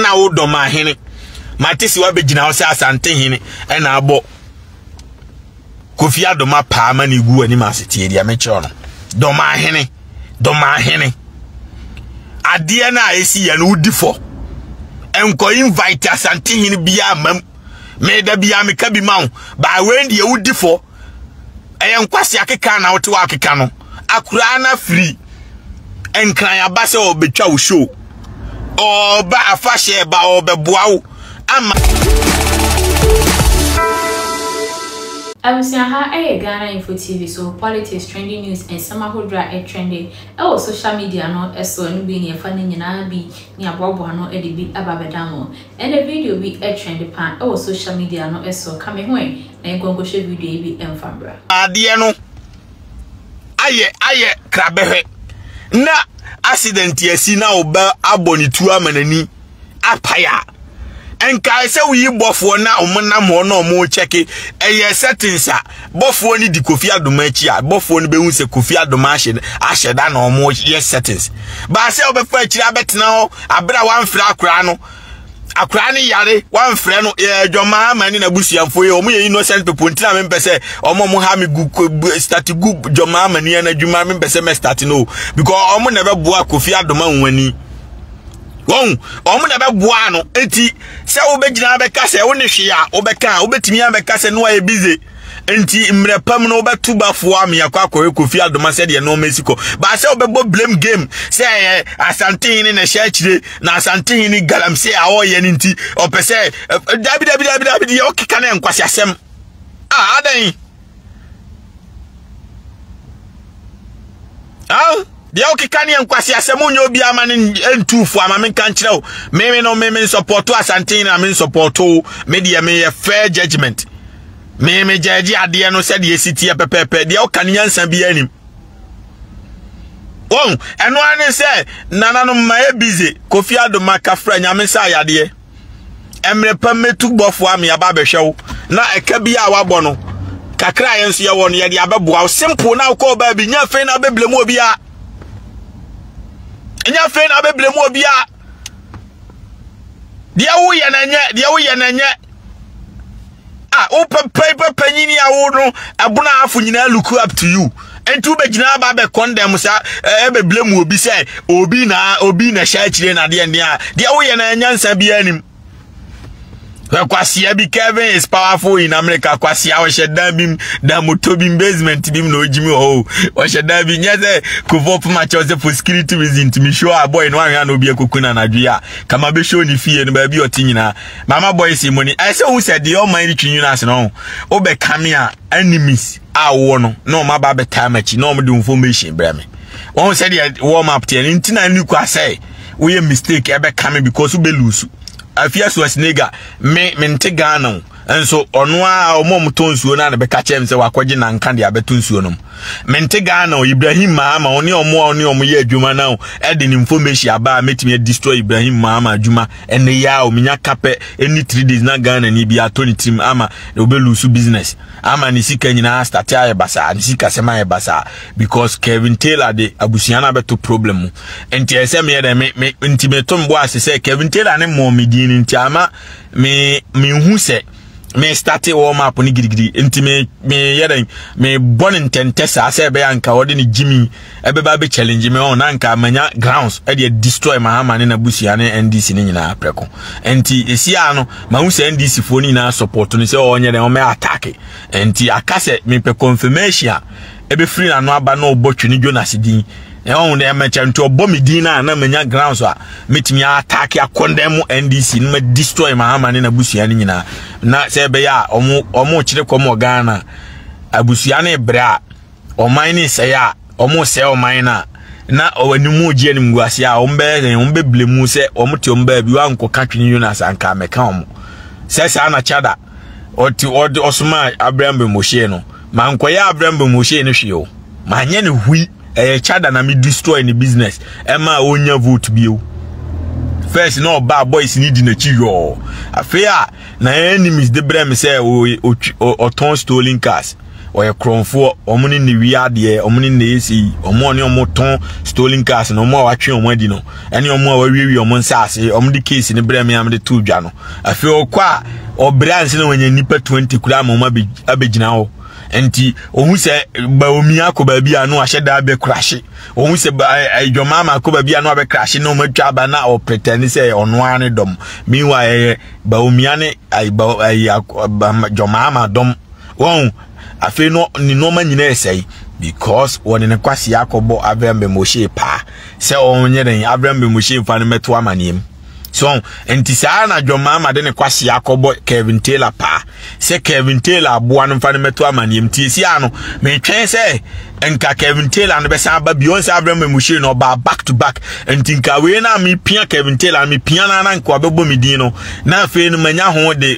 na wo dɔ ma hene mate si wabɛgyina hɔ sɛ asante hene ɛna abɔ kofi adoma paa ma ne gu anim ase tie deɛ mekyerɛ no dɔma hene dɔma hene adeɛ no a ɛsi yɛ no wodi fɔ nkɔ invite asante hene biaa mam meda biaa meka bi ma wo baa wei deɛ wodi fɔ ɛyɛ nkwasi akeka na wote wakeka no akura na firi nkran aba sɛ ɔbɛtwa wo show ɔba afahyɛ ba ɔbɛboa wo ama Abusua ha ɛyɛ Ghana Info TV so politics trending news nsɛm ahodoɔ a ɛtrende ɛwɔ social media no ɛsoɔ no bi ne ɛfa ne nyinaa bi ne aboaboa ano ɛde bi ɛba bɛda mo Ndɛ video bi trend paa wɔ social media no so, ka me ho ɛ na nkɔ nkɔhwɛ video yi bi mfa mbra. Adeɛ no ayɛ ayɛ krabɛhwɛ na accident asi na wo ba abɔ ne tuo ama n'ani apae a nkae sɛ woyi bɔfoɔ na wɔnam hɔ na wɔkyɛke ɛyɛ settings a bɔfoɔ no di kofi adoma akyi a bɔfoɔ no bɛhu sɛ kofi adoma ahyɛ ahyɛ da na wɔn yɛ settings baa sɛ wɔbɛfa akyiri abɛtena hɔ abere a wɔamfrɛ akwaraa no akwaraa no yare wɔamfrɛ no ɛɛ dwamaa ama ne n'abusuafoɔ yi wɔn yɛ innocent people ntina mi mpɛ sɛ wɔn wɔn ha mi gu start gu dwamaa ama ni ɛna adwuma mi mpɛ sɛ mɛ start no because wɔn na ɛbɛboa kofi adoma nwani. wɔn wɔn na ɛbɛboa ano eti sɛ wobɛgyina abɛka sɛ wo ne hwee a wobɛka a wobɛtumi abɛka sɛ no ayɛ bize nti mmerɛ pam no wobɛto bafoɔ a meakɔ akɔyɛ kofi adoma sɛdeɛ nɔɔma asi kɔ baa sɛ wobɛbɔ blame game sɛ ɛyɛ asantehene na ɛhyɛ akyire na asantehene galamsey a ɔyɛ no nti ɔpɛ sɛ dabidabidabidabi deɛ wokeka no nkwase asɛm a adɛn ah deɛ wokeka ne nkwasi asɛm nyɛ obi ama no ntu fo ama menka nkyerɛ wo meme no meme nsɔpɔto asanten na me nsɔpɔto me deɛ meyɛ fair judgment meme gyɛgye adeɛ no sɛdeɛ ɛsi teɛ pɛpɛpɛ deɛ woka ne nyansa biara nim wɔn ɛno ara ne sɛ nananom ma yɛ busy kofi adoma kafra nyame nsa ayadeɛ mmerɛ pa mɛtu bɔfoɔ a meaba abɛhwɛ wo na ɛka bi a wabɔ no kakra a yɛn nso yɛwɔ no yɛde abɛboa wo simple na wokɔ ɔbaa bi nyɛ afei na abɛbla mu obia nyɛ afei na abɛbla mu obia deɛ woyɛ na nyɛ deɛ woyɛ na nyɛ a wopɛpɛi pɛpɛ nyini a wo no ɛbono afo nyinaa look up to you nti wobɛgyina aba bɛ condemn sa ɛbɛbile mu obi sɛ obi na obi na hyɛ akyire na deɛ ndeɛ a deɛ woyɛ na nyansa biara nim kwasia bi Kevin is powerful in America kwasia ɔhyɛ dan bi mu dan moto bi mu basement bi mu na ogyimi wɔ hɔ ɔhyɛ dan bi nyɛ sɛ kofo poma kyɛw sɛ for security reason tumi show a boy no ahwɛ na obi akokuna anadwo yi a kama bɛhyɛ ne fie no baabi ɔte nyinaa Mama boys yi moni ɛsɛ ohun sɛ deɛ ɔman yi twi nyina ase no ɔho wobɛ kame a enemies a wɔwɔ no na wɔn aba abɛtaa m'akyi na wɔn de information brɛ me wɔn sɛ deɛ warm up teɛ no nti na ne kura sɛ woyɛ mistake ɛbɛ kame because wobɛ lose afia so asinega me me nte Ghana o nso ɔno a wɔn a wɔtɔ nsuo no a na bɛka kyɛm sɛ wakɔgye nanka deɛ abɛto nsuo no mu me nte Ghana o Ibrahim Mahama wɔn ne wɔn a wɔn ne wɔn yɛ adwuma no ɛde ne information aba a mɛtumi adestroy Ibrahim Mahama adwuma ɛnɛ yi a ominya kapɛ ɛni three days na ghana ni bi atɔ ne tirim ama obɛlusu business ama ne sika nyinaa starte ayɛ basaa ne sika sɛm ayɛ basaa because kevin taylor de abusua no abɛto problem mu nti ɛyɛ sɛ meyɛ dɛ me, me nti meto mboa ase sɛ kevin taylor ne mmɔɔ me din no nti ama me mehu sɛ me starte warm up ne gidigidi nti me me yɛ dɛn me bɔ ne ntɛntɛ saa sɛ ɛbɛyɛ anka ɔde ne gyimi ɛbɛba bɛ challenge me ɔn oh, na anka manya grounds ɛde destroy mahama ne n'abusua ne ndc ne nyinaa prɛko nti esi a no ma ho sɛ ndc foɔ ne nyinaa support no sɛ ɔnyɛ dɛn ɔmɛ attack nti aka sɛ mepɛ confirmation ɛbɛfiri n'ano aba na ɔbɔ twe ne jonas din na ɔhu dɛ mɛkyɛ nti ɔbɔ me din no a na manya grounds a mɛtumi ataake akɔndɛn mo ndc no ma destroy mahama ne n'abusua no nyinaa na sɛ ɛbɛyɛ a ɔmo ɔmo kyerɛ kɔm wɔ ghana abusua no brɛ a ɔman no sɛe a ɔmo sɛe ɔman no a na ɔnimu gye anim gu ase a ɔmo bɛyɛ dɛn ɔmo bɛbile mu sɛ ɔmo te ɔmo baabi wankɔka twene jonas anka mɛka ɔmo sɛ saa na kyada ɔte ɔde ɔsomaa abram bɛ mɔhyɛ no ma nkɔyɛ abram bɛ mɔhyɛ no hwee o ma nyɛ ne hui ɛyɛ chada na me destroy ne business ɛma ɔnya vote bio first na ɔbaa boys ne di n'akyi yɔɔ afei a na enemies de brɛ me sɛ ɔtɔn stolen cars wɔyɛ korɔmfoɔ wɔn ne ne wia adeɛ wɔn ne na esi wɔn a ɔne wɔn tɔn stolen cars na wɔn a watwe wɔn adi no ɛne wɔn a wawiewie wɔn nsaase wɔn de case ne brɛ mmea de to dwa no afei ɔkɔ a ɔbrɛ ansa na wɔnyɛ nipa twenty kura ama wɔn abɛgyina hɔ nti wɔn sɛ baomi akɔ baabi a no ahyɛ daa bɛ kurahye wɔn sɛ ɛdwɔmaa ma akɔ baabi a no abɛ kurahye na wɔn atwa aba na ɔpretɛn sɛ ɔno ara ne dɔm meanwhile ɛyɛ baomia ne ɛyɛ dwɔmaa ma dɔm. wɔn afei no ne nneɛma nyinaa sɛe because wɔde ne kwasi akɔbɔ abram bemoshe paa sɛ ɔnyɛ dɛn abram bemoshe mfa no mɛto amaneɛ mu so nti saa na john mahama de ne kwasi akɔbɔ kevin taylor paa sɛ kevin taylor aboa no mfa no mɛto amaneɛ mu tie si ano metwɛn sɛ nka kevin taylor no bɛsan aba bio sɛ abram bemoshe no ɔbaa back to back nti nka wei na mepia kevin taylor mepia no ana nka ɔbɛbɔ me din no na afei no manya ho de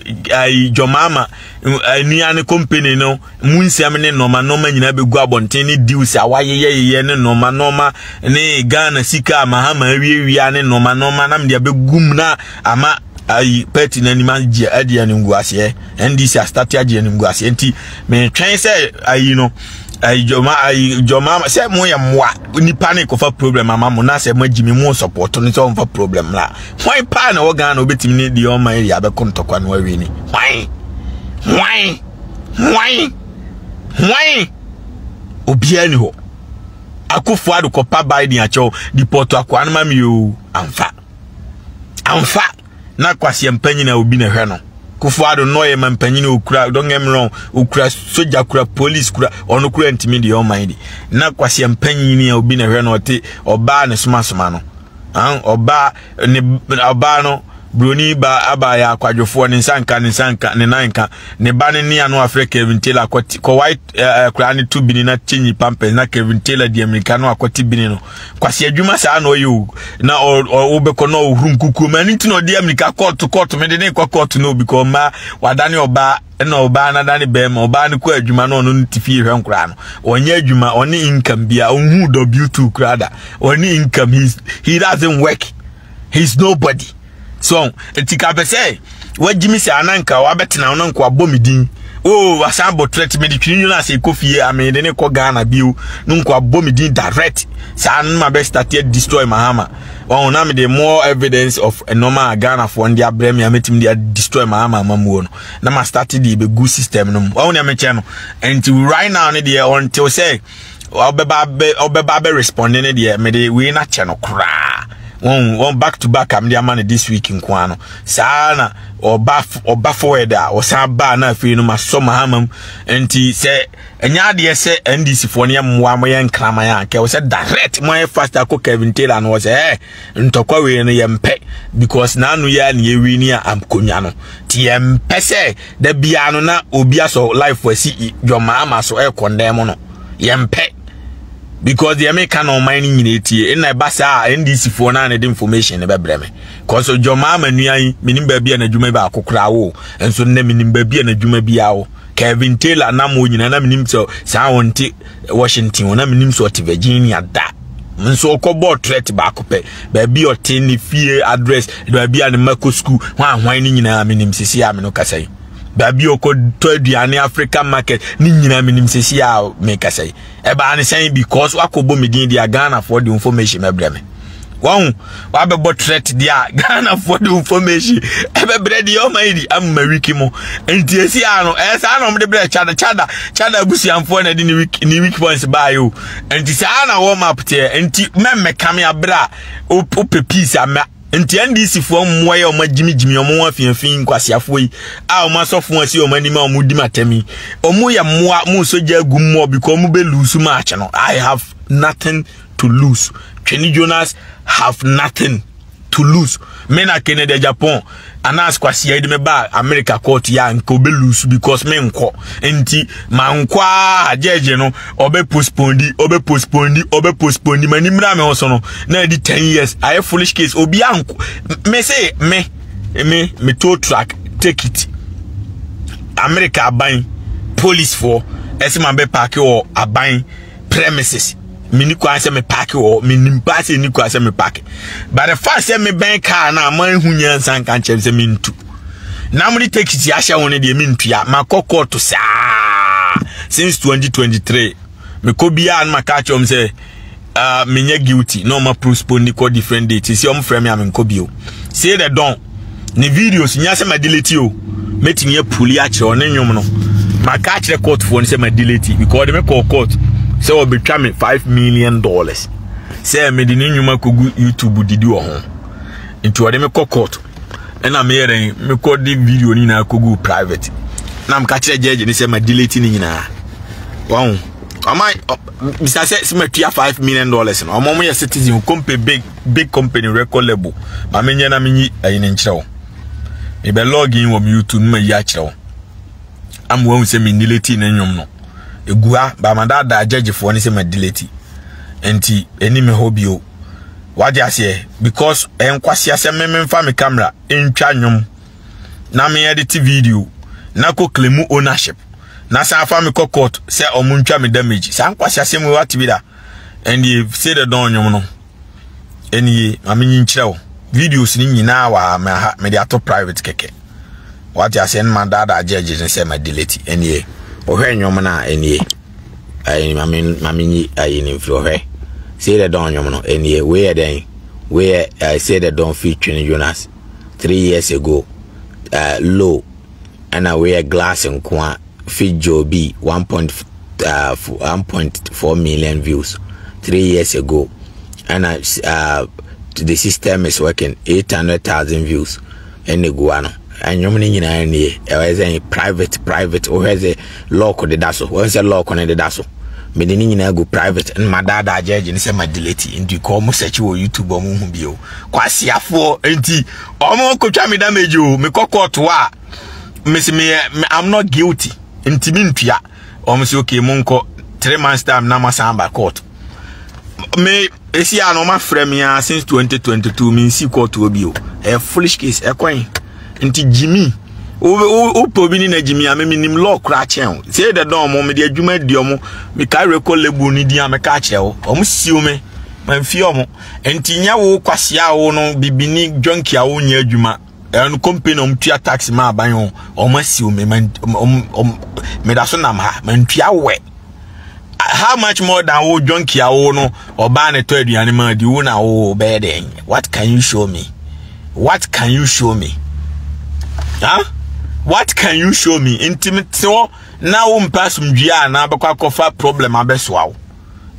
john mahama nnuan no company no mu nsɛm ne nɔɔma nɔɔma nyinaa bɛgu abɔnten ne deals a wayeyɛyeyɛ ne nɔɔma nɔɔma ne ghana sika a mahama awiawia ne nɔɔma nɔɔma nam deɛ bɛgu mu na ama ayi pɛti no anim agye agye animguaseɛ ndc astate agye animguaseɛ nti metwɛn sɛ ayi no ayi jɔma ayi jɔma sɛ mo yɛ mmoa nipa ne kɔfa problem ama mo na sɛ mo agyi mi mo sɔpɔtɔ no sɛ ɔmfa problem la hwan paa na ɛwɔ ghana wobɛtumi ne deɛ ɔma yɛ abɛko ntɔkwa no awie ni hwan hwan hwan hwan obiara ni hɔ akufo ado kɔpa biden akyɛw dipɔto akoa no ma me o amfa amfa na kwaseɛ mpanyina obi na ɛhwɛ no kufo ado no ɔyɛ ma mpanyina okura don't get me wrong okura soja kura police kura ɔno kura ntumi deɛ ɔman di na kwaseɛ mpanyina obi na ɛhwɛ no ɔte ɔbaa ne somasoma no an ɔbaa ne ɔbaa no broni ba aba yɛ akwadwofoɔ ne nsa nka ne nsa nka ne nan nka ne ba ne ne ano afrɛ Kevin Taylor akɔte kɔ white ɛɛ koraa ne to bini na kyenyi pampers na Kevin Taylor di amirika no akɔte bini no kwasi adwuma saa na ɔyɛ o na ɔwobɛkɔ na ɔhuru nkukuo ma ne ti na ɔde amirika kɔɔto kɔɔto mede ne kɔ kɔɔto na obi kɔ ɔma wadane ɔbaa ɛna ɔbaa no adane bɛrima ɔbaa no kɔ adwuma na ɔno no te fie hwɛ nkoraa no ɔnyɛ adwuma ɔne income bia ɔhu w2 koraa da ɔne income he's, he doesn't work he's nobody so ɛti ka pɛ sɛ wagyimi sɛ ananka wabɛtena wo no nkoa bɔ me din o oh, wasan bɔ threat mede twiri nwunu ase kɔ fie a mede ne kɔ ghana bio no nkoa bɔ me din direct saa no ma bɛstate destroy mahama ɔho na mede more evidence of nnoɔma a ghanafoɔ no de abrɛ me a mɛtumi de destroy mahama amamuo no na ma start de bɛgu system no mu wahu nea mekyɛ no nti right now ne deɛ ɔntew sɛ ɔbɛba bɛ ɔbɛba bɛ respond ne deɛ mede wei na kyɛ no koraa wɔn wɔn back to back am de ama no this week nko ano saa na ɔba ɔba forward a ɔsan ba na afei no ma sɔ ma ama mu nti sɛ ɛnyɛ adeɛ sɛ ndc foɔ no yɛ mmoa mo yɛ nkraman a kɛwɔ sɛ direct mo ayɛ fast akɔ kevin taylor no wɔ sɛ ɛɛ. ntɔkwa wei no yɛmpɛ because n'ano yɛ a na yɛwi ne a akonya no nti yɛmpɛ sɛ da biara no na obi asɔ life asi dwɔmaama so ɛrekɔndɛn mu no yɛmpɛ because deɛ meka na ɔman no nyina tie ɛna ɛba saa a ndc foɔ no a na ɛde information no bɛbrɛ me cause dwɔmaama nua yi menim baabi a n'adwuma baako koraa wo nso nnɛ menim baabi a n'adwuma biara wo Kevin Taylor nam wɔ nyina na menim sɛ saa wɔnte Washington ɔ na menim sɛ ɔte Virginia da nso ɔkɔbɔɔ trɛt baako pɛ baabi ɔte ne fie address baabi a ne mma kɔ sukuu hwanhwan ne nyinaa menim sisi a me no kasa yi baabi ɔkɔtɔ aduane african market ne nyinaa menim sisi a mekasa yi ɛbaa ne sɛn because wakɔbɔ me din deɛ ghanafoɔ de information mɛbrɛ me wɔn wabɛbɔ threat deɛ a ghanafoɔ de information ɛbɛbrɛ deɛ ɔma yi di ama wiki mu nti esi ano ɛyɛ saa na wɔde brɛ chada chada chada abusuanfoɔ na ɛde ne wiki ne wiki points baa yi o nti saa na wɔn map teɛ nti mɛmɛ kame abere a wopɛ peace ama nti ndc foɔ mmoa yi a wɔn agyimigyimi wɔn ho afiafi nkwasiafoɔ yi a wɔn asɔfo asi wɔn anim a wɔn di ma tɛm yi wɔn yɛ mmoa wɔn nsogya agu mmoa bi kɔ wɔn bɛ lusu match no i have nothing to lose twene jonas have nothing to lose me na kennedy japan anas kwasi ayi de me ba america court ya nka obe lose because me nkɔ nti ma nkɔ a judge no obe postpone di obe postpone di obe postpone di ma ni mra me ho so no na di 10 years ayɛ foolish case obi anko me say me me me tow truck take it america aban police for ɛsɛ ma bɛ paaki wɔ aban premises mini kwan sɛ me park wɔ menim paa sɛ ɛni kwan sɛ me park but the fact sɛ mebɛn car no a manhu nyansa nka nkyɛm sɛ mentu na mode taxi ahyɛ ho no deɛ mentua makɔ kɔɔto saa since 2023 mekɔ biaa no maka kyerɛm sɛ uh, menyɛ guilty na ɔma postpone kɔ different date sɛ ɔmfrɛ me a menkɔ bio sei dɛ dɔn ne videos nya sɛ ma delete o mɛtumi apuli akyerɛ ɔne nnwom no maka akyerɛ courtfoɔ no sɛ ma delete because ɔde me kɔɔ court sɛ ɔbɛtwa me five million dollars sɛ mede ne nnwuma kɔgu youtube didi wɔ ho nti ɔde me kɔ court ɛna meyɛ dɛn mekɔ de video no nyinaa kɔgu private na meka kyerɛ gyɛgye ne sɛ ma delete ne nyinaa wɔn ɔma bisa sɛ sɛ matua five million dollars no ɔmo yɛ citizen company big big company record label ma me nyɛ na me nyi ayi ne nkyerɛ wo me bɛ log in wɔ me youtube ma yi akyerɛ wo ama wɔn sɛ me delete ne nnwom no egu ha ba ma daadaa gyɛgyefoɔ ne sɛ ma delete nti ɛni me hɔ bio wagye aseɛ because ɛnkwasi asɛ me me nfa me camera ntwa nnwom na me edit video na kɔ claim ownership na san afa me kɔ court sɛ ɔmo ntwa me damage saa nkwasi asɛm wɔ atibi da. ɛndeɛ sei dɛ dɔn nnwom no ɛnie ma menyi nkyerɛ wo videos no nyinaa wɔ ha mɛha mede ato private kɛkɛ wate aseɛ no ma daadaa gyɛgye ne sɛ ma delete ɛnie ɔhwɛ nnwom no a ɛnie ɛni ma menyi ayi ne mfiri ɔhwɛ sei dɛ dɔn nnwom no ɛnie wei yɛ dɛn wei yɛ sei dɛ dɔn fi twene jonas three years ago uh, low ɛna wei yɛ glass nkoa video bi one point uh, one point four million views three years ago ɛna uh, the system is working eight hundred thousand views ɛna egu ano ɛnwom no nyinaa nie ɛwɔ sɛ private private wohwɛ sɛ lock deda so wɔn sɛ lock no deda so mede ne nyinaa gu private ɛna ma daadaa gyɛgye ne sɛ ma delete nti kɔɔ mo sɛkyi wɔ youtube ɔmo hu bio kwasiafoɔ nti ɔmo kotwa me damage o me kɔ court hɔ a mesi me i'm not guilty nti me ntua ɔmo si okay mo nkɔ three months time na ma san ba court me esi a no ma frɛ me a since 2022 me nsi court hɔ bi o ɛyɛ foolish case ɛkwan nti jimmy wopɛ obi ne na jimmy a meme nim law kora kyɛn o sɛ dɛ dɔn mo mede adwuma di ɔmo meka record label no din a meka kyerɛ wo ɔmo siw me mamfie ɔmo Nti nyɛ wo kwasea a wo no bibini junkie a wonyɛ adwuma ɛno company na ɔmtua tax ma aban o ɔmo asiw me ma meda so nam ha mantua wɛ how much more than wo junkie a wo no ɔbaa ne tɔ aduane ma di wo na wo bɛyɛ dɛn what can you show me what can you show me huh? what can you show me nti mete hɔ na wo mpa asomdwie a na bɛkɔ akɔfa problem abɛsoa wo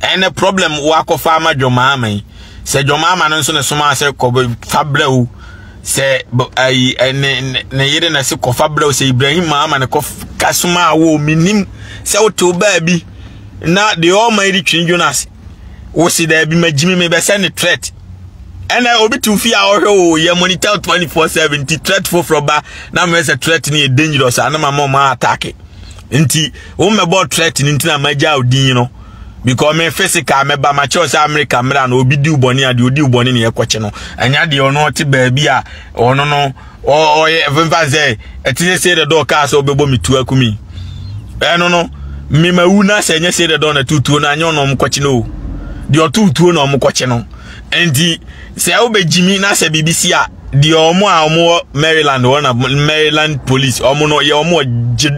ɛne problem woakɔfa ama dwɔmaama yi sɛ dwɔmaama no nso ne soma sɛ kɔfa brɛw sɛ ayi ne ne yere na se kɔfa brɛw sɛ ibrahim maama ne kɔka soma a wo menim sɛ wotew baabi na deɛ ɔma yi de twene dwon ase wo se daabi magyimi mebɛsɛ ne threat ɛnna obi te fie a ɔhwɛ o yɛ monitor twenty four seven ti threat foforɔ ba na mmerɛ sɛ threat no yɛ dangerous a na ma ma ɔma atake nti wo mmɛbɔ threat no nti na magya wo din no because me physical mɛba makyɛw sɛ america mmra no obi di wo bɔne a deɛ odi wo bɔne ne ɛkɔkye no ɛnya deɛ ɔno ɔte baabi a ɔno no ɔyɛ mfa sɛ ɛte sɛ sei dɛ dɛ ɔkaa sɛ ɔbɛbɔ me tu akumi ɛno no mema wu no asɛ ɛnyɛ sei dɛ dɛ ɔna tutuo no anyɛ ɔna ɔmokɔkye no o deɛ ɔtutuo na ɔmokɔkye no nti Sɛ wobɛgyimi na sɛ biribi si a, deɛ wɔn a wɔwɔ Maryland hɔ na Maryland police wɔn no yɛ wɔn wɔ gye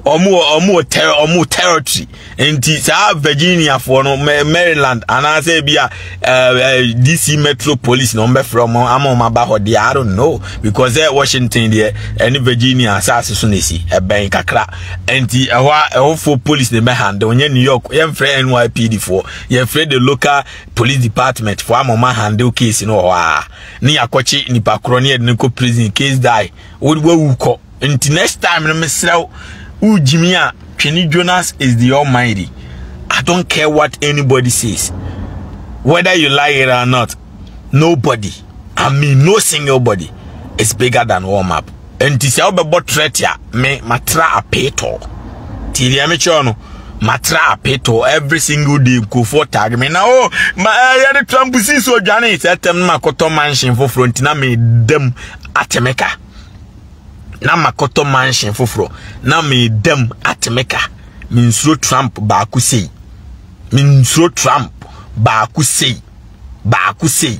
wɔn wɔ wɔn wɔ ter wɔn wɔ territory nti saa Virginia foɔ no Maryland anaasɛ ebi a ɛɛ eh, eh, DC Metro Police na wɔn bɛfrɛ wɔn ama wɔn aba hɔ deɛ I don't know because ɛ eh, Washington deɛ ɛne Virginia asaase so na esi ɛbɛn kakra nti ɛhɔ a ɛhɔfoɔ police na ɛbɛ handle nyɛ New York yɛn fɛ NYPD foɔ yɛn fɛ the local. police department fo ama ɔma handle case no wɔ hɔ a ne yɛakɔkye nipa korɔ ne yɛde no kɔ prison case die wode wawu kɔ nti next time no mesrɛ wo wogyimi a twene jonas is the almighty i don't care what anybody says whether you like it or not nobody I mean no single body is bigger than all map. And this I'll be bought me matra a peto. Till the amateur matra a peto every single day go for tag me now. Oh, my I had a tramp see so Johnny said them Makoto mansion for front na me them atemeka. Na Makoto mansion for fro na me them atemeka. Min sro tramp baku say. Min sro tramp baku say. Baku say.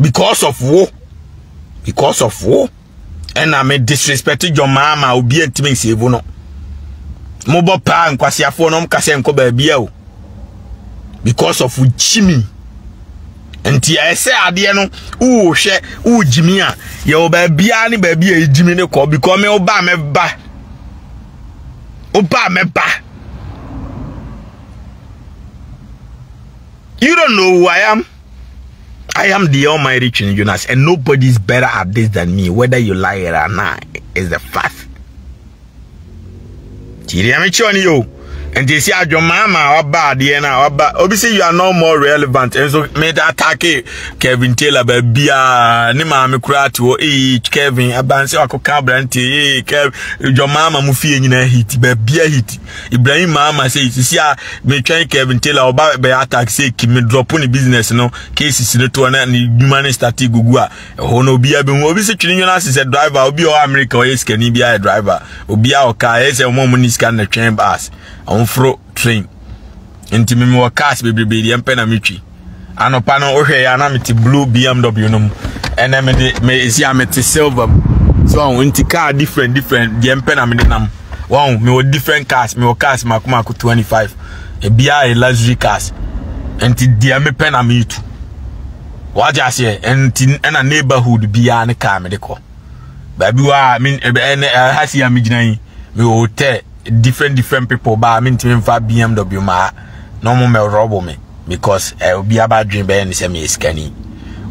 because of wo because of wo ɛna me disrespect dwom maa ma obi ntumi nsave no mobɔ paa nkwaseafoɔ no ɔmka sɛ nkɔ baabi a o because of gyimi nti ɛsɛ adeɛ no wohwɛ wogyimi a yɛwɔ baabiaa ne baabi a ɛgyimi no kɔ because me woba a mɛba woba a mɛba You don't know who I am. I am the Almighty Chin Jonas, and nobody is better at this than me, whether you like it or not, is the fact. Tiriame Choni yo. And they say, Ajo mama, Abba, Diana, Abba. Obviously, you are no more relevant. And so, me attack Kevin Taylor, baby, ah, ni maame kura ti wo, eh, Kevin, abanse wako kabranti, eh, Kevin, Jomama, mufi, eh, nyina hit, baby, hit. ibrahim maama sɛ sisi a metwɛn kevin taylor ɔba bɛyɛ attack sɛ kimi drop ne business no cases no toɔ na ne dwuma no starte gugu a ɛhɔ no obiaa bɛhu obi sɛ twene nwene ase sɛ driver obi ɔwɔ america ɔyɛ sikani bi ayɛ driver obiaa ɔka ɛyɛ sɛ ɔma ɔmo ne sika no twɛn bus ɔmforo train nti me mewɔ cars bebrebe deɛ mpɛ na metwi anɔpa no wohwɛ yɛ na mete blue bmw no mu ɛnɛ mede me ɛsi a mete silver mu so ɔho nti car different different deɛ mpɛ na mede nam wɔn mewɔ different cars mewɔ cars mako mako 25 ebiara yɛ luxury cars nti deɛ mepɛ na metu wagye aseɛ nti ɛna neighborhood biara ne car mede kɔ baabi wɔ a me ɛnɛ ha si a megyina yi me wɔ hotel different different people ba a mentumi mfa bmw maa na ɔmo mɛrɔbo me because eh, obi aba adwene bɛyɛ ne sɛ meyɛ sikani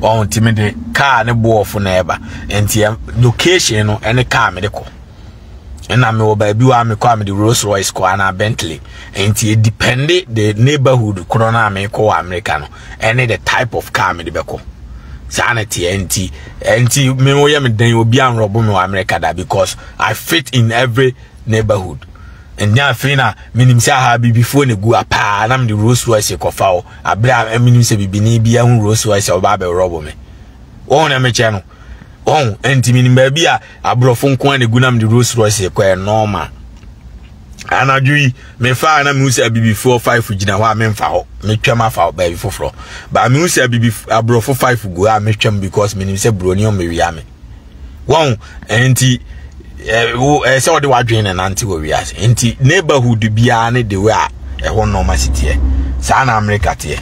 ɔho nti me de kaa ne boɔfo na ɛba nti eh, location no ɛne kaa me de kɔ ɛna mewɔ baabi wɔ a mekɔ a mede rolls royce kɔ anaa bentley nti ɛdipɛnde the neighborhood korɔ no a mekɔ wɔ amerika no ɛne the type of car mede bɛkɔ saa na teɛ nti nti me woyɛ me den obi anrɔbo me wɔ america da because i fit in every neighborhood ɛnyɛ afei na menim sɛ aha bibifoɔ na ɛgu apaa na mede rose royce kɔfa o aberɛ a menim sɛ bibini bi ahu rose royce a wɔba abɛworɔbo me wɔhu na mekyɛ no wɔhu ɛnti menim baabi a aborɔfo nko a na ɛgu na mede rose royce kɔ ɛ normal anadwo yi mefaa na mehu sɛ abibifoɔ five gyina hɔ a memfa hɔ metwam afa baabi foforɔ baa mehu sɛ abibi aborɔfo five gu hɔ a metwam because menim sɛ buroni ɔmmɛwia me wɔn nti ɛɛ sɛ wɔde wadwene na nante wɔ wiase nti neighborhood biara ne de wei a ɛhɔ nneɛma si teɛ saa na amerika teɛ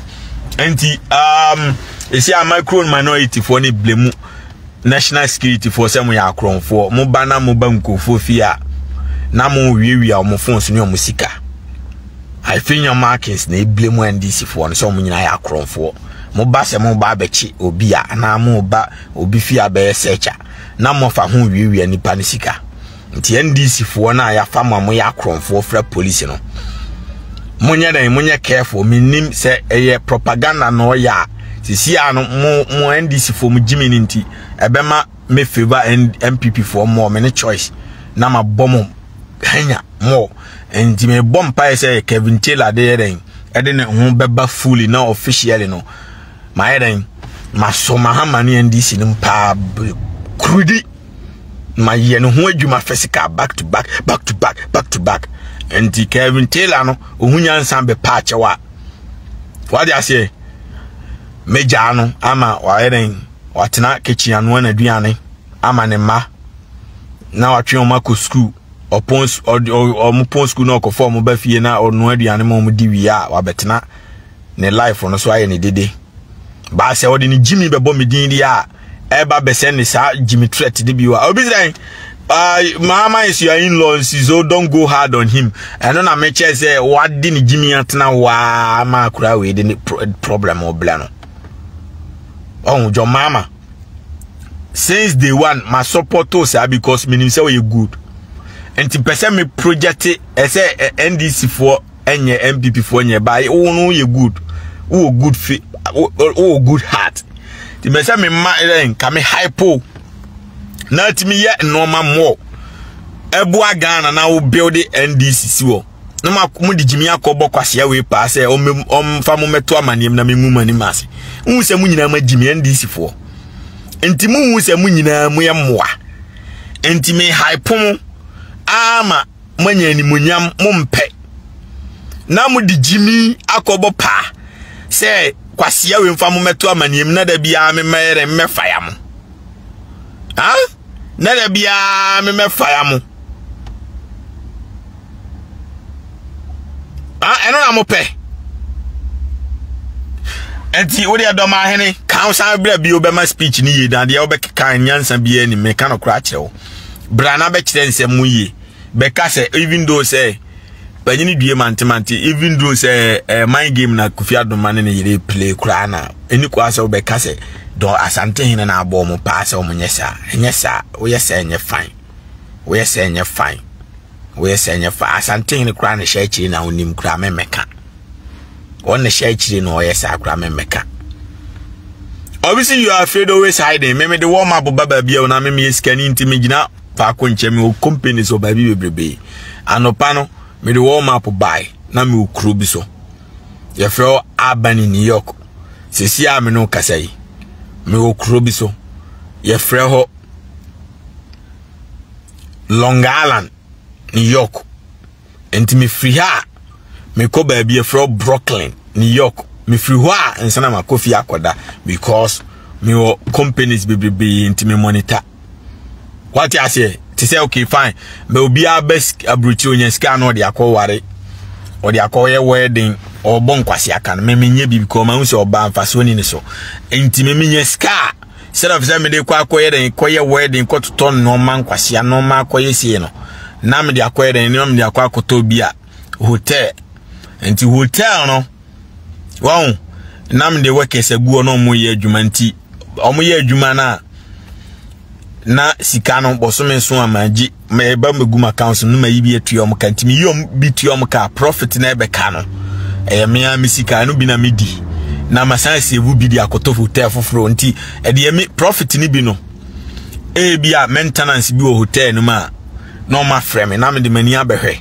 nti um, ɛsi a micro minority foɔ ne blemu national security foɔ sɛ mo yɛ akorɔmfoɔ mo ba na mo ba nkurɔfoɔ fie a na mo wiawia wɔn phones ne wɔn sika afenya markings na ebile mu ndc foɔ no sɛ wɔn nyinaa yɛ akorɔmfoɔ mo ba sɛ mo ba abɛkye obi a anaa mo ba obi fie abɛyɛ sɛkya na mo fa ho wiawia nipa ne sika. nti ndc foɔ no a yɛafa mo a moyɛ akorɔmfoɔ fra polisi no monyɛ dɛn monyɛ careful menim sɛ ɛyɛ propaganda na ɔyɛ a sisi a no mo mo ndc foɔ mo gyimi no nti ɛbɛma me favor mpp foɔ mmɔ me ne choice na mabɔ mo hanya mo nti mebɔ mpaeɛ sɛ kevin taylor de yɛ dɛn ɛde ne ho bɛba fully na officially no mayɛ dɛn maso mahama ne ndc no mpaa kurudi mayɛ ne ho adwuma physical back to back back to back back to back nti kevin taylor no ɔhu nyansa bɛpa akyɛw a wade aseɛ megyaa no ama wayɛ dɛn watena kitchen anoa n'aduane ama ne mma na watwe wɔn akɔ sukuu ɔpɔn su ɔde wɔn pɔn sukuu na ɔkɔfa wɔn ba fie na ɔno aduane ma wɔn di wie a wabɛtena ne life no so ayɛ ne dede baa sɛ ɔde ne gyimi bɛbɔ me din deɛ a ɛba bɛsɛ ne saa gyimi threat de bi wa obi sɛ maa maa nsu yɛ in law nsi so don go hard on him ɛno na mekyɛ sɛ wade ne gyimi atena waa ma akura wei de ne problem ɔbla no ɔho dwɔ maama since day one ma support to saa because menim sɛ ɔyɛ good nti pɛ sɛ me project ɛsɛ eh, ndc foɔ ɛnyɛ npp foɔ nyɛ ba wo no yɛ good wowɔ good fi wowɔ good heart nti mɛ sɛ mema ɛn ka me hypo na atumi yɛ nneɛma mmɔ ɛboa ghana na wo build ndc si wɔ na mode gyimi akɔbɔ kwasea wei paa sɛ ɔmfa mo mɛto amanneɛm na mengu mo anim ase wohu sɛ mo nyinaa magyi me ndcfoɔ nti mohu sɛ mo nyinaa moyɛ mmoa nti mehaepo mo ama moanya animonyam mompɛ na mode gyimi akɔbɔ paa sɛ kwasea wei mfa mo mɛto amanneɛm na da biara memɛyɛ dɛ mmɛfa ya mo ah na da biara me mɛfaya mo ah, ɛno na mopɛ nti wo deɛ dɔm ahene ka wo san berɛ bio bɛma speech no yie na deɛ wobɛkeka nyansa biara ni meka no kora akyerɛ wo bra na bɛkyerɛ nsɛm mu yie bɛka sɛ even though sɛ banyini due mantemante even though sɛ ɛɛ eh, mind game na kofi adoma ne ne yere play koraa na ɛni kɔ asɛ wobɛka sɛ dɔn asante hene na abɔ ɔmo paa sɛ ɔmo nyɛ saa ɛnyɛ saa woyɛ sɛ ɛnyɛ fine woyɛ sɛ ɛnyɛ fine woyɛ sɛ ɛnyɛ fine asante hene koraa ne hyɛ akyire na onim koraa mɛmɛka wɔn ne hyɛ akyire na ɔyɛ saa koraa mɛmɛka obviously you are afraid always hiding mɛmɛ de wɔn ma boba baabi a wɔn amɛmɛ yɛ sikani nti mɛ gyina. faako nkyɛ mewɔ companies wɔ baabi bebrebe anɔpa no mede wɔn map bae na mewɔ kuro bi so yɛfrɛ hɔ albany new york sɛsi a me no kasa yi mewɔ kuro bi so yɛfrɛ hɔ long island new york Enti mefiri ha a, mekɔ baabi yɛfrɛ Brooklyn, New York. Mefiri hɔ a, nsa na makɔ fie akɔda because mewɔ companies bebrebe nti me monitor. Wate aseɛ? Te sɛ okay fine, ma obiara bɛ aburokyire onya sika na ɔde akɔ ware, ɔde akɔ yɛ wedding, ɔbɔ nkwasi aka no. Meme nyɛ bi because mahu sɛ ɔbaa mfasoɔ ni ne so. Enti meme nya sika a, Instead of sɛ mede kɔ akɔyɛ dɛn kɔyɛ wedding kɔtotɔ nneɛma nkwasea nneɛma akɔyɛ sie no na mede akɔyɛ dɛn nneɛma mede akɔ akɔtɔ bi a hotel nti hotel no wɔn na mede workers aguo na wɔn yɛ adwuma nti wɔn yɛ adwuma no a na sika no bɔsome so a magye meba megu m accounts no mayi bi atua ɔm ka nti meyi ɔm bi tua ɔm ka profit na ɛbɛka no ɛyɛ me a me sika ɛno bi na medi na masan save bi de akɔtɔ hotel foforɔ nti ɛdeɛ me profit no bi no ebi a maintenance bi wɔ hotel no mu a na ɔma frɛ me na mede m'ani abɛhwɛ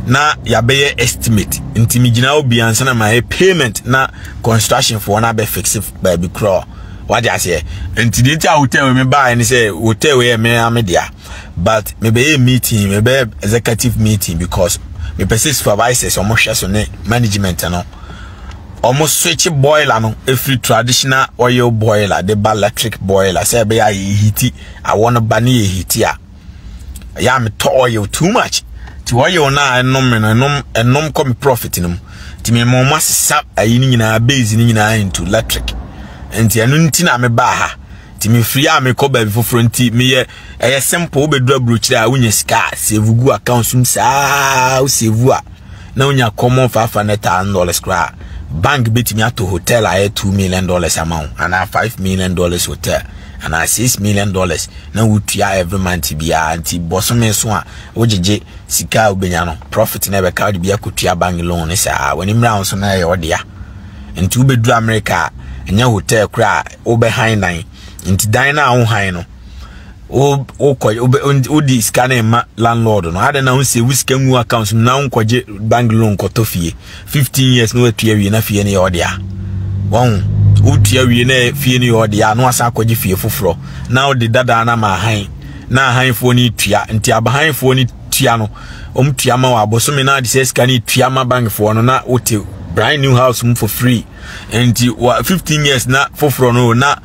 na yɛabɛyɛ estimate nti megyina wo bia nsa na mayɛ payment na construction foɔ no abɛfixe baabi korɔ wade aseɛ nti deɛ nti a hotel me baeɛ ne sɛ hotel yɛ me a me dea but mebɛyɛ meeting mebɛyɛ executive meeting because mepɛ sɛ supervisors wɔn hwɛ so ne management no wɔn switch boiler no efiri traditional oil boiler de ba electric boiler sɛ ɛbɛyɛ a yɛ hiti awɔ no ba ne yɛ hiti a ɛyɛ a metɔ oil too much ti oil no a ɛnom no ɛnom ɛnom kɔ me profit no mu ti me mo ma sisa ayi no nyinaa base no nyinaa into electric nti ɛno nti na mebaa ha nti mefiri a mekɔ baabi foforɔ nti meyɛ ɛyɛ simple wobɛduru aburokyerɛ a wonya sika a save gu account som saa wo save a na wonya common five hundred thousand dollars koraa bank bɛtumi ato hotel a ɛyɛ two million dollars ama wo anaa five million dollars hotel anaa six million dollars na wotua every month biara nti bɔsome so a wogyegye sika a wobɛnya no profit na ɛbɛka wode bi akɔtua bank loan saa w'ani mmra wo so na ɛyɛ ɔdea nti wobɛduru amerika a ɛnyɛ hotel kora a wobɛhan dan nti dan no a wohan no wokɔ wodi sika no ma landlord no adɛn na wosie wo sika ngu account no na wonkɔgye bank loan kɔtɔ fie 15 years na watua wie na fie no yɛ ɔde a wɔn wotua wie na fie no yɛ ɔde a na wasan akɔgye fie foforɔ na wode dadaa no ama ahan na ahanfoɔ no tua nti abahanfoɔ no tua no wɔn tua ma wɔ abosome na de sɛ sika no tua ma bankfoɔ no na wote brand new house mu for free nti wɔ fifteen years na foforɔ no na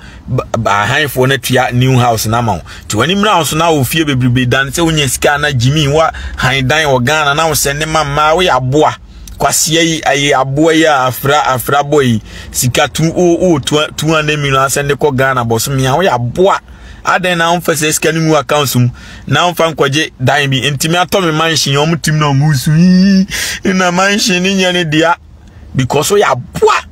ahanfoɔ no tua new house no ama wo nti wɔn mmerɛ ahosuo na wɔ fie bebrebe dan sɛ wonya sika na gyimi wa han dan wɔ ghana na wosɛ ne ma mmaa woyɛ aboa kwasia yi ayɛ aboa yi a afra afra bɔ yi sika tu o o two hundred million asɛn de kɔ ghana bɔsome a woyɛ aboa adɛn na wofɛ sɛ sika no mu accounts mu na ɔmfa nkɔgye dan bi ntumi atɔ me mansion wɔn tim na wɔn su yi na mansion ne nyɛ ne dea because so yɛ aboa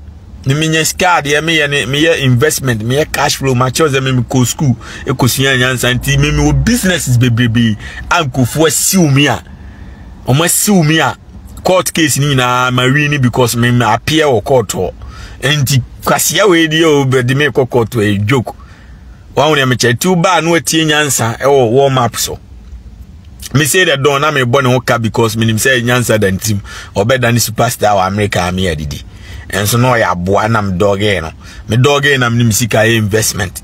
ne menyɛ sika adeɛ meyɛ ne meyɛ investment meyɛ cash flow makyɛw sɛ meme kɔ school ɛkɔsua nyansa nti meme wɔ businesses bebrebe a nkurɔfoɔ asiw me a wɔn asiw me a court case ni nyinaa ma wi ni because me ma appear wɔ court hɔ nti kwasia wei deɛ o bɛde me kɔ court ɛ joke wɔn wɔn mɛkyɛ tiw baa no atie nyansa ɛwɔ wɔn map so mese dɛ dɔn na mebɔ ne ho ka because menim sɛ nyansa da ntim ɔbɛda ne superstar wɔ amerika a meyɛ adidi ɛnso na ɔyɛ aboa na medɔgee no medɔgee na menim sika yɛ investment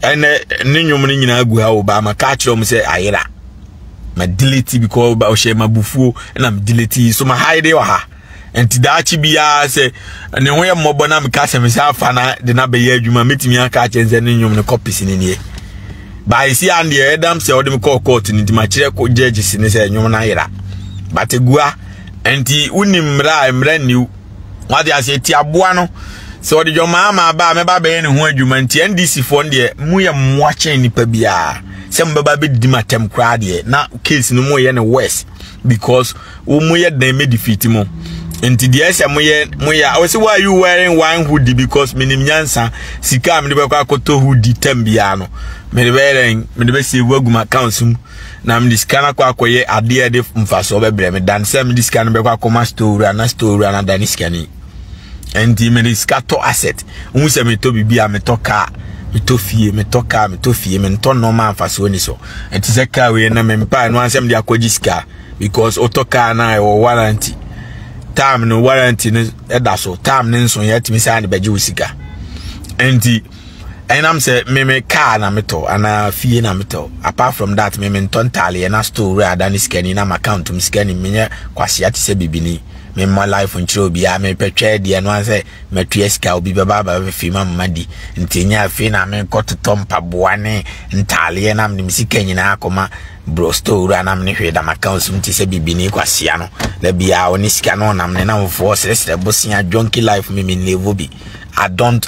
ɛnɛ ne nnwom no nyinaa gu ha wɔ baa ma ka kyerɛ m sɛ ayera ma delete because ɔhyɛ ma bufuo na me delete so ma haide wɔ ha nti daakye biara sɛ ne ho yɛ mmɔbɔ na meka sɛ mesɛ afa na de no abɛyɛ adwuma mɛtumi aka akyɛ sɛ ne nnwom no kɔpese ne neɛ baɛsi a deɛ ɛdam sɛ ɔde me kɔɔ court no nti makyerɛ ko gyagye si ne sɛ nnwom no ayera but agua nti wonim mmara a mmara nniw wade aseɛ ti aboa no sɛ ɔde dwɔmaa ma aba a mɛba bɛyɛ ne ho adwuma nti ndc foɔ no deɛ mu yɛ mmoa kyɛn nipa biara sɛ mobɛba bɛdidi ma tɛm koraa deɛ na case no mu yɛ ne worse because wo mo yɛ den me defeat mo nti deɛ ɛsɛ mo yɛ mo yɛ a ɔsi why you wearing one hoodie because minim nyansa sika a mede bɛkɔ akɔtɔ hoodie tam biara no mede bɛyɛ dɛn mede bɛ save agu m accounts mu na mede sika no akɔ akɔyɛ adeɛ ɛde mfasoɔ bɛbrɛ me dan sɛ mede sika no bɛkɔ akɔma store wura na store wura no adane sikani ɛnti mede sika tɔ asset wohu sɛ metɔ biribi a metɔ kaa metɔ fie metɔ kaa metɔ fie mentɔ nɔɔma mfasoɔ ni so ɛnti sɛ kaa wei na mempa ɛno ansɛ mede akɔgye sika because wotɔ kaa no a ɛwɔ warranty time no warranty no ɛda so time no nso yɛatumi saa de bɛgye wo sika ɛnti ɛnam sɛ meme kaa na metɔ anaa fie na metɔ apart from that meme ntɔ ntaaleɛ na store wura ada ne sika ni na m'account mu sika ni menyɛ kwasea te sɛ bibini memmɔ life nkyerɛ obiara mepɛ twɛ deɛ no sɛ matua sika obi bɛba abɛfefe ma mma di nti nyɛ afei na mekɔ totɔ mpaboa ne ntaaleɛ na mede me sika nyinaa akɔma bro store wura na mene hwee da m'accounts mu te sɛ bibini kwasia no da biara ɔne sika no ɔnam ne namfoɔ srɛsrɛ bosea jonki life me menlevo bi i don't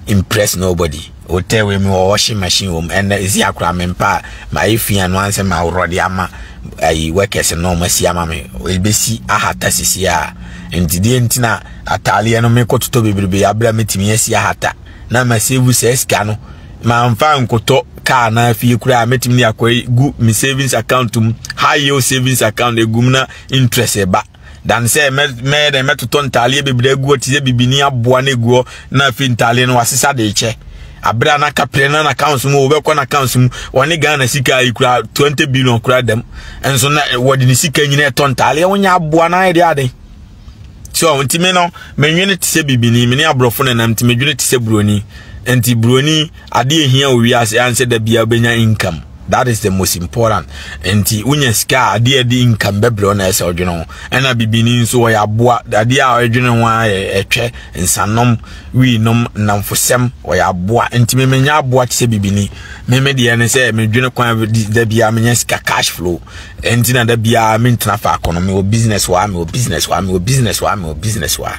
impress nobody Hotel wei mi wɔ washing machine wɔ mu ɛnɛ esi akora me mpa a ma ayɛ fi ano ansɛ ma aworɔ de ama ayi workers no ɔmo asi ama me ebesi ahata sisi a nti deɛ nti na ataaleɛ no mekɔ totɔ bebrebe abira metumi asi ahata na ma save sɛ sika no ma nfa nkotɔ kaa na afie koraa metumi de akɔ gu me savings account mu high yield savings account egum na interest ɛba. dan sɛ mɛyɛ dɛn mɛtotɔ ntaaleɛ bebree agu hɔ te sɛ bibini aboa no agu hɔ na afei ntaaleɛ no wasesa de kyɛ abere a n'aka pere na n'accounts mu wɔbɛkɔ n'accounts mu wɔne ghana sika yi kura twenty billion kura dɛm nso na eh, wɔde ne sika nyinaa ɛtɔ ntaaleɛ wɔnyɛ aboa no ayɛ de aden so nti me no menwene te sɛ bibini me ne aborɔfo nenam nti medwene te sɛ buroni nti buroni Ade a ehia wɔ wiase ara sɛ da biara wobɛnya income. That is the most important. Nti wonya sika a adeɛ a ɛde income bɛbrɛ wo na ɛsɛ ɔdwene ho. Ɛna bibini nso wɔyɛ aboa. Adeɛ a ɔdwene ho ara yɛ ɛtwɛ, nsanom, wiinom, nnamfosɛm. Wɔyɛ aboa. Nti me menya aboa te sɛ bibini. Me me deɛ ne sɛ medwene kwan da biara menya sika cash flow. Nti na da biara mentena faako no. Mewɔ business wɔ ha, mewɔ business wɔ ha, mewɔ business wɔ ha, mewɔ business wɔ ha.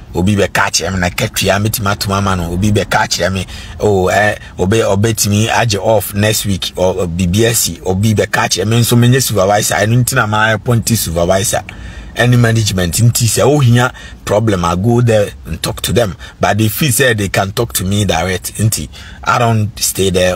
obi bɛka akyerɛ me na katua mɛtumi atom ama no obi bɛka akyerɛ me oh, eh, ɔbɛ ɔbɛtumi agye off next week oh, biribi asi obi bɛka akyerɛ me nso menyɛ supervisor ɛno nti na maa appointed supervisor ɛne management nti sɛ wohia problem i go there and talk to them but they feel say they can talk to me direct nti i don't stay there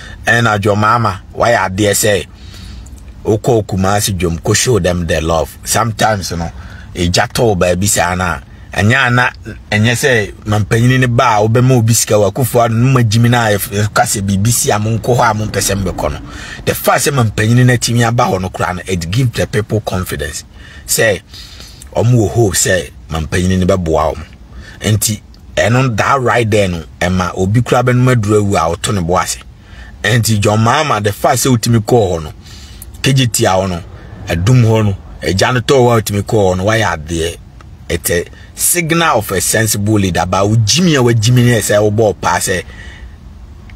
ɛna dwom mama wayɛ adeɛ sɛ wokɔɔ kumase dwom kɔ show them the love sometimes no ɛgya tɔw baabi saa no a ɛnyɛ ana ɛnyɛ sɛ mampanyini no ba a wobɛma obi sika wɔ akufo ano no magyimi no a ɛka sɛ biribi si a monkɔ hɔ a mompɛ sɛ mbɛkɔ no the fact sɛ mampanyini no atumi aba hɔ no koraa no it give the people confidence sɛ ɔmo wɔ hope sɛ mampanyini no bɛboa ɔmo nti Ɛno that right there no ɛma obi kura bɛnum aduru awu a ɔto ne bo ase ɛnti John Mahama the fact sɛ otumi kɔɔ hɔ no kegye tia hɔ no ɛdum hɔ no ɛgya no tɔɔ hɔ a otumi kɔɔ hɔ no wayɛ adeɛ it's a signal of a sensible leader ba ogyimi a wagyimi ne ɛsɛ ɔbɔ ɔpaa sɛ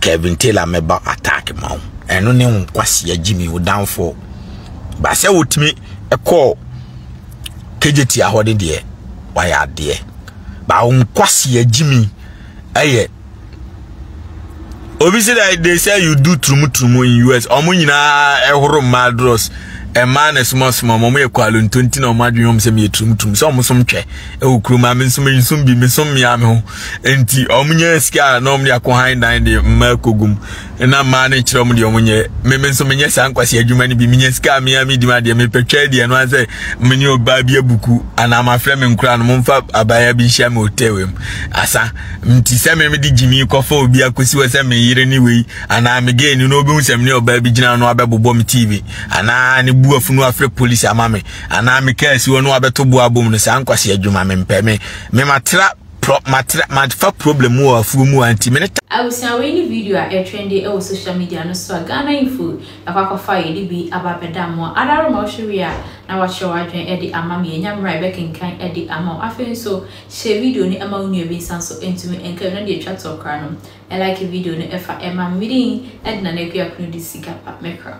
Kevin Taylor mɛba attack ma wo ɛno ne wo nkwasea gyimi wo downfall ba sɛ wotumi ɛkɔɔ kegyeti ahɔ ne deɛ wayɛ adeɛ ba wo nkwasea gyimi ɛyɛ obi sɛ dɛ they say you do turumuturumu in us ɔmo nyinaa ɛhoro mmaa dros ɛmaa na sumasuma ɔmo ɔmo yɛ kwalo ntonti na ɔmo adwene ɔmo sɛ meyɛ turumuturumu sɛ ɔmo som twɛ ɛwɔ kurom a me nso me nso bi me som mmea me ho nti wɔn nyɛ sika a na wɔn de akɔ han dan de mmaa kogum na mmaa no nkyerɛ wɔn deɛ wɔn nyɛ mmemme nso menyɛ saa nkwasi adwuma no bi menya sika a mea me di ma deɛ mepɛ twɛ deɛ no asɛ me ne ɔbaa bi abuku anaa mafrɛ me nkora no momfa abaayewa bi nhyia me hotel mu asa nti sɛ me mede gyimi kɔfa obi akɔsi hɔ sɛ me yere ne wei anaa me gay ni na obi hu sɛ me ne ɔbaa bi gyina no abɛbobɔ me tv anaa ne bu afunu afrɛ polisi ama me anaa me kaa si hɔ no abɛto bo abom no saa nkwasi adwuma me mpɛ me me matra pro matra mafa problem wɔ afuo mu anti me ne Abusua wei ne video a ɛtrɛnde ɛwɔ social media no so a Ghana info ɛkɔ akɔfa yɛde bi aba abɛda mo ara wɔ ma wohwɛ wie a na wakyerɛ w'adwene ɛde ama me yɛnya mmerɛ a yɛbɛkenkan ɛde ama wo afei nso hyɛ video no ɛma wo nua bi nsa nso ɛntumi ɛnka bi na deɛ ɛtwa toɔ koraa no ɛlike video no ɛfa ɛma me din ɛde Nana Akua Kunu di sika pa mekra.